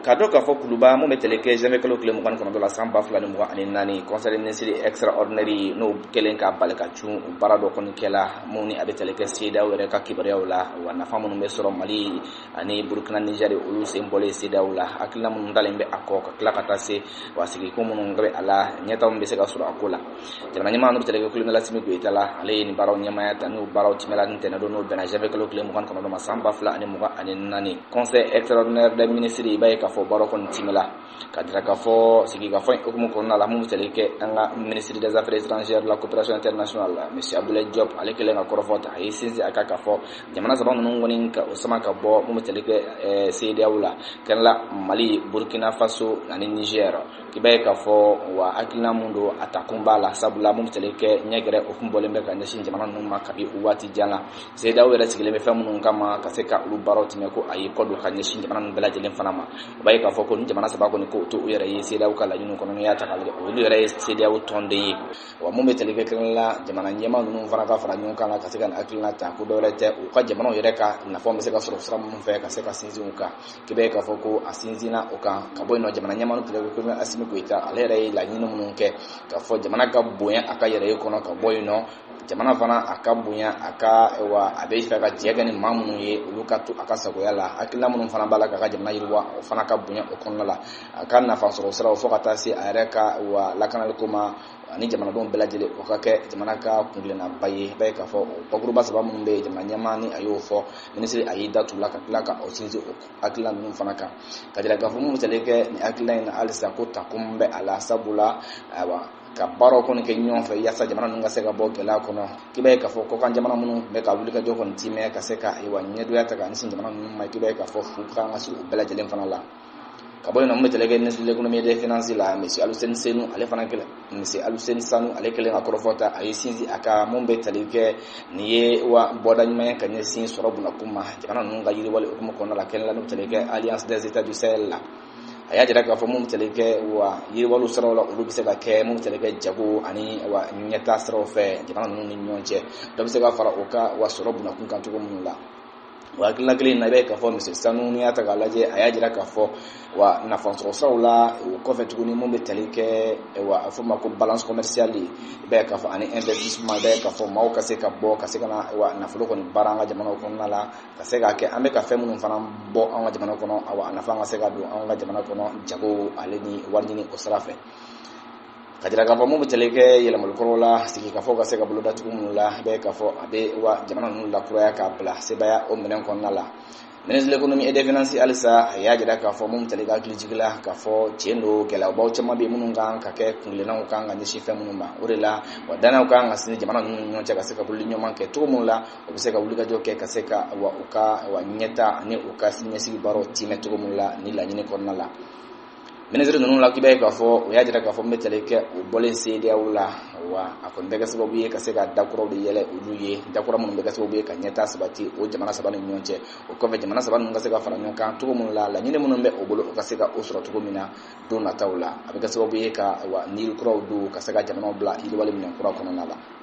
k'a dɔn k'a fɔ kuluba mun bɛ tali kɛ zanwuye kalo tile mugan kɔnɔntɔn na san ba fila ni mugan ani naani conseil ministre extraordinaire n'o kɛlen ka bala ka cun baara dɔ kɔni kɛla mun ni a bɛ tali kɛ CEDEAO yɛrɛ ka kibaruyaw la wa nafa minnu bɛ sɔrɔ mali ani burukina nizɛri olu sen bɔlen CEDEAO la hakilina minnu dalen bɛ a kɔ ka tila ka taa se wa sigiko minnu bɛ a la ɲɛtaw bɛ se ka sɔrɔ a ko la jamana ɲɛmaa n'o bɛ tali kɛ kolonɛli asimi goyita la ale ye nin baaraw ɲɛmaaya ta n'o baaraw tɛmɛla ntɛnɛn don n'o bɛnna zanwuye kalo tile mugan kɔnɔntɔn ma san ba fila ani mugan ani naani conseil extraordinaire des ministres i b'a ye k'a fɔ baara kɔni timɛla k'a jira k'a fɔ sigikafɔ in hukumu kɔnɔna la mun bɛ tali kɛ an ka ministre des affaires étrangères la coopération internationale la monsieur abdoulaye diop ale kɛlen ka kɔrɔfɔ ta a ye sinsin a kan k'a fɔ jamana saba ninnu kɔni ka u sama ka bɔ mun bɛ tali kɛ CEDEAO la kɛrɛla mali burkina faso ani niger i b'a ye k'a fɔ wa hakilina mun don a takun b'a la sabula mun bɛ tali kɛ ɲɛgɛrɛ hukumu bɔlen bɛ ka ɲɛsin jamana ninnu ma kabi waati jan na CEDEAO yɛrɛ sigilen bɛ fɛn minnu kama ka se ka olu baaraw tɛmɛ ko a ye kɔ don ka ɲɛsin jamana ninnu bɛɛ lajɛlen fana ma i b'a ye k'a fɔ ko ni jamana saba kɔni ko to u yɛrɛ ye CEDEAO ka laɲiniw kɔnɔ n'i y'a ta k'a lajɛ olu yɛrɛ ye CEDEAO tɔnden ye wa mun bɛ tali kɛ kelen la jamana ɲɛmaa ninnu fana ka fara ɲɔgɔn kan la ka se ka na hakilina ta ko dɔwɛrɛ tɛ u ka jamanaw yɛrɛ ka nafa bɛ se ka sɔrɔ sira minnu fɛ ka se ka sinsin u kan k'i b'a ye k'a fɔ ko a sinsinna o kan ka bɔ yen nɔ jamana ɲɛmaa n'o bɛ tali kɛ kolonɛli asimi goyita ale yɛrɛ ye laɲini minnu kɛ k'a fɔ jamana ka bonya a ka yɛrɛya kɔnɔ ka bɔ yen nɔ jamana fana a ka bonya a ka wa a b'a fɛ ka jɛ kɛ ni maa minnu ye olu ka to a ka sagoya la hakilila minnu fana b'a la k'a ka jamana yiriwa o fana ka bonya o kɔnɔna la a ka nafa sɔrɔ siraw fo ka taa se a yɛrɛ ka wa lakanaliko ma ani jamanadenw bɛɛ lajɛlen o ka kɛ jamana ka kungilenaba ye b'a ye k'a fɔ o bakuruba saba minnu bɛ jamana ɲɛmaa ni a y'o fɔ minisiri a y'i da tu la ka tila ka o sinsin o hakilila ninnu fana kan k'a jira k'a fɔ mun bɛ tali kɛ nin hakilila in na halisa ko ta kun bɛ a la sabula ayiwa ka baaraw kɔni kɛ ɲɔgɔn fɛ yasa jamana ninnu ka se ka bɔ gɛlɛya kɔnɔ k'i b'a ye k'a fɔ kɔkan jamana minnu tun bɛ ka wuli ka jɔ kɔni timɛ ka se ka ayiwa ɲɛdoya ta ka ɲɛsin jamana ninnu ma k'i b'a ye k'a fɔ fu kan ka se u bɛɛ lajɛlen fana la ka bɔ yen nɔ mun bɛ tali kɛ ministre de l'économie et des finances la monsieur Aluseni Senu ale fana kɛlen monsieur Aluseni Sanu ale kɛlen ka kɔrɔfɔ ta a ye sinsin a kan mun bɛ tali kɛ nin ye wa bɔda ɲuman ye ka ɲɛsin sɔrɔ bunakun ma jamana ninnu ka yiriwali hukumu kɔnɔna la kɛnɛ la n'o tali kɛ alliance des états du sahel la a y'a jira k'a fɔ mun tali kɛ wa yiriwaliw siraw la olu bɛ se ka kɛ mun tali kɛ jago ani wa ɲɛtaa siraw fɛ jamana ninnu ni ɲɔgɔn cɛ dɔ bɛ se ka fara o ka wa sɔrɔ bunakun kan cogo minnu la o hakilina kelen in na i b'a ye k'a fɔ minisiri sanu n'i y'a ta k'a lajɛ a y'a jira k'a fɔ wa nafasɔrɔ siraw la o kɔfɛ tuguni mun bɛ tali kɛ wa a fɔ ma ko balance commerciale i b'a ye k'a fɔ ani investissement i b'a ye k'a fɔ maaw ka se ka bɔ ka se ka na wa nafolo kɔni baara an ka jamanaw kɔnɔna la ka se k'a kɛ an bɛ ka fɛn minnu fana bɔ an ka jamana kɔnɔ awa a nafa ka se ka don an ka jamana kɔnɔ jago ale ni wari ɲini o sira fɛ ka jira k'a fɔ mun bɛ tali kɛ yɛlɛmali kuraw la sigikafɔw ka se ka boloda cogo minnu la i b'a ye k'a fɔ a bɛ wa jamana ninnu lakuraya k'a bila sebaya o minɛn kɔnɔna la ministre de l'économie et des finances halisa a y'a jira k'a fɔ mun tali kɛ hakilijigin la k'a fɔ tiɲɛ don gɛlɛyabaw caman bɛ minnu kan ka kɛ kungilennaw kan ka ɲɛsin fɛn minnu ma o de la wa dannaw kan ka sinsin jamana ninnu ɲɔgɔn cɛ ka se ka bolo ɲɔgɔn kɛ cogo minnu la u bɛ se ka wulikajɔ kɛ ka se ka wa u ka wa ɲɛta ani u ka siniɲɛsigi baaraw tiimɛ cogo min la ni laɲini kɔnɔna la minisiri ninnu la k'i b'a ye k'a fɔ u y'a jira k'a fɔ min bɛ tali kɛ u bɔlen CEDEAO la wa a kɔni bɛ kɛ sababu ye ka se ka dakuraw de yɛlɛ olu ye dakura minnu bɛ kɛ sababu ye ka ɲɛta sabati o jamana saba ni ɲɔgɔn cɛ o kɔfɛ jamana saba ninnu ka se ka fara ɲɔgɔn kan cogo minnu la laɲini minnu bɛ u bolo u ka se ka o sɔrɔ cogo min na don nataw la a bɛ kɛ sababu ye ka wa ni kuraw don ka se ka jamanaw bila yiriwali minɛn kura kɔnɔna la